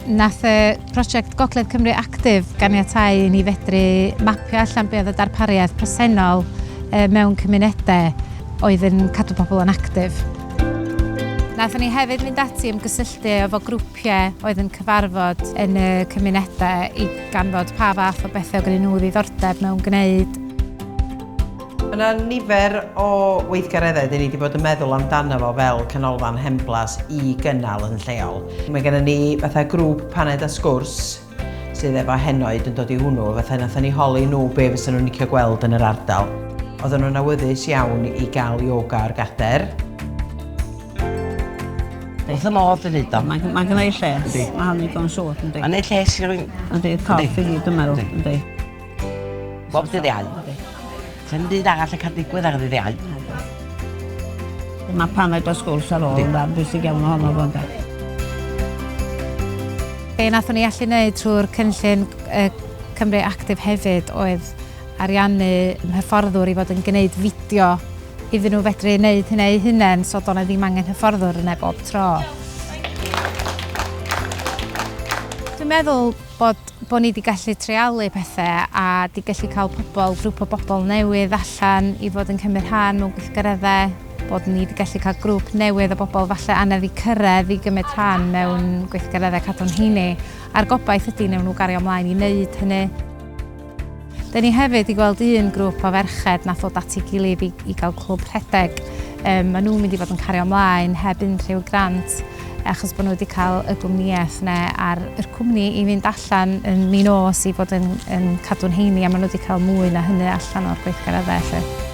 Nath y prosiect Gogledd Cymru Actif ganiatáu i ni fedru mapio allan be oedd y darpariaeth presennol mewn cymunedau oedd yn cadw pobl yn actif. Nathon ni hefyd mynd ati ymgysylltu efo grwpiau oedd yn cyfarfod yn y cymunedau i ganfod pa fath o bethau oedd gennyn nhw ddiddordeb mewn gwneud. Mae yna nifer o weithgareddau dyn ni wedi bod yn meddwl amdano fo fel canolfan hen blas i gynnal yn lleol. Mae gennym ni fatha grŵp paned a sgwrs sydd efo henoed yn dod i hwnnw, fatha wnaethon ni holi nhw be fysa nhw'n licio gweld yn yr ardal. Oedden nhw'n awyddus iawn i gael ioga ar gader. Wrth fy modd yn neud o. Mae ma gynnau lles. Yndi. Mae hynny'n digon siŵr, yndi. Mae'n neud lles i rywun. Yndi, corff i gyd dwi'n meddwl, yndi. Bob dydd Iau. Sa'm byd arall yn cael digwydd ar ddydd Iau. Mae paned o sgwrs ar ôl ynde, bwysig iawn ohono fo ynde. Be wnaethon ni allu wneud trwy'r cynllun Cymru Actif hefyd oedd ariannu hyfforddwr i fod yn gwneud fideo iddyn nhw fedru wneud hynny eu hunain, so doedd 'na ddim angen hyfforddwr yna bob tro. Dwi'n meddwl Bod, bod ni 'di gallu treialu pethe a 'di gallu cael pobl, grŵp o bobl newydd allan i fod yn cymryd rhan mewn gweithgareddau, bod ni 'di gallu cael grŵp newydd o bobl falle anedd i cyrraedd i gymryd rhan mewn gweithgareddau Cadw'n Heini, a'r gobaith ydy wnewn nhw gario 'mlaen i wneud hynny. Dyn ni hefyd wedi gweld un grwp o ferched nath ddod at ei gilydd i, i gael clwb rhedeg. Um, maen nhw'n mynd i fod yn cario ymlaen heb unrhyw grant achos bod nhw wedi cael y gwmnïaeth neu ar yr cwmni i fynd allan yn mi nos i fod yn, yn cadw'n heini a maen nhw wedi cael mwy na hynny allan o'r gweithgareddau felly.